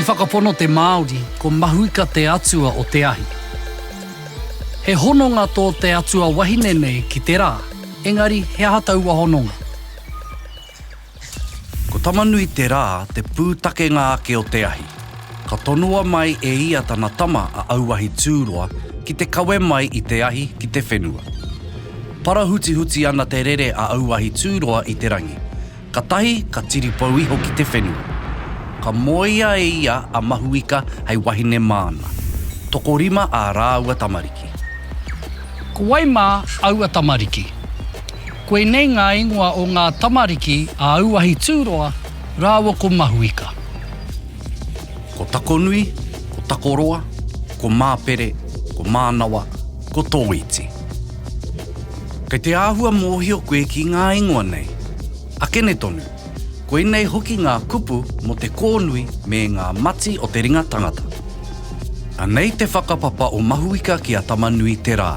I whakapono te Māori ko Mahuika te atua o te ahi. He hononga tō te atua wahine nei ki te rā, engari he aha taua hononga? Ko Tamanui Te Rā te pūtakenga ake o te ahi. Ka tonoa mai e ia tana tama a Auahi Tūroa ki te kawe mai i te ahi ki te whenua. Parahutihuti ana te rere a Auahi Tūroa i te rangi, katahi ka tiripou iho ki te whenua. Ka moea e ia a Mahuika hei wahine māna. Tokorima ā rāua tamariki. Ko wai mā aua tamariki? Koinei ngā ingoa o ngā tamariki a Auahi Tūroa rāua ko Mahuika. Ko Takonui, ko Takoroa, ko Māpere, ko Mānawa, ko Tōiti. Kei te āhua mōhio koe ki ngā ingoa nei? Akene tonu, koinei hoki ngā kupu mō te kōnui me ngā mati o te ringa tangata. Anei te whakapapa o Mahuika ki a Tamanui-te-rā.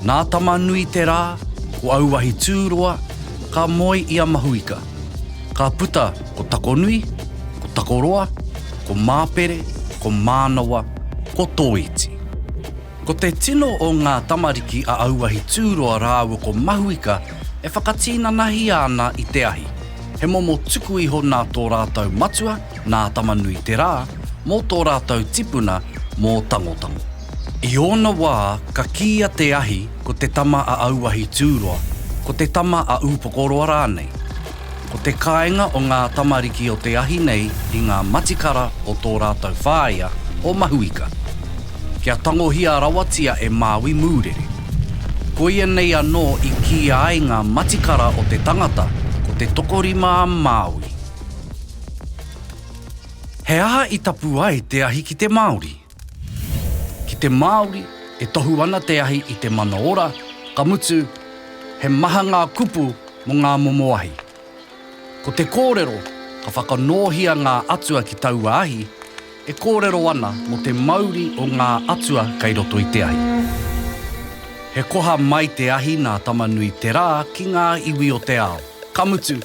Nā Tama-nui-te-rā, ko auahi tūroa, ka moe i a Mahuika. Ka puta ko Takonui, ko Takoroa, ko Māpere, ko Mānawa, ko Tōiti. Ko te tino o ngā tamariki a auahi tūroa rāua ko Mahuika e whakatīnanahia ana i te ahi. He momo tuku iho nā tō rātou matua, nā Tama-nui-te-rā, mō tō rātou tipuna, mō Tangotango. I ōna wā, ka kīia te ahi ko te tama a auahi tūroa, ko te tama a ūpokoroa rānei. Ko te kāinga o ngā tamariki o te ahi nei i ngā matikara o tō rātou whāea o Mahuika. Kia tangohia rawatia e Māui mūrere. Koia nei anō i kīia ai ngā matikara o te tangata ko te tokorima a Māui. He aha i tapu ai te ahi ki te Māori? Ki te Māori, e tohu ana te ahi i te mana ora, ka mutu, he maha ngā kupu mō ngā momo ahi. Ko te kōrero, ka whakanōhia ngā atua ki taua ahi, e kōrero ana mō te mauri o ngā atua kei roto i te ahi. He koha mai te ahi nā Tamanui-te-rā ki ngā iwi o te ao, ka mutu,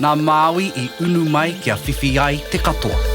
Nā Māui i unu mai kia whiwhi ai te katoa.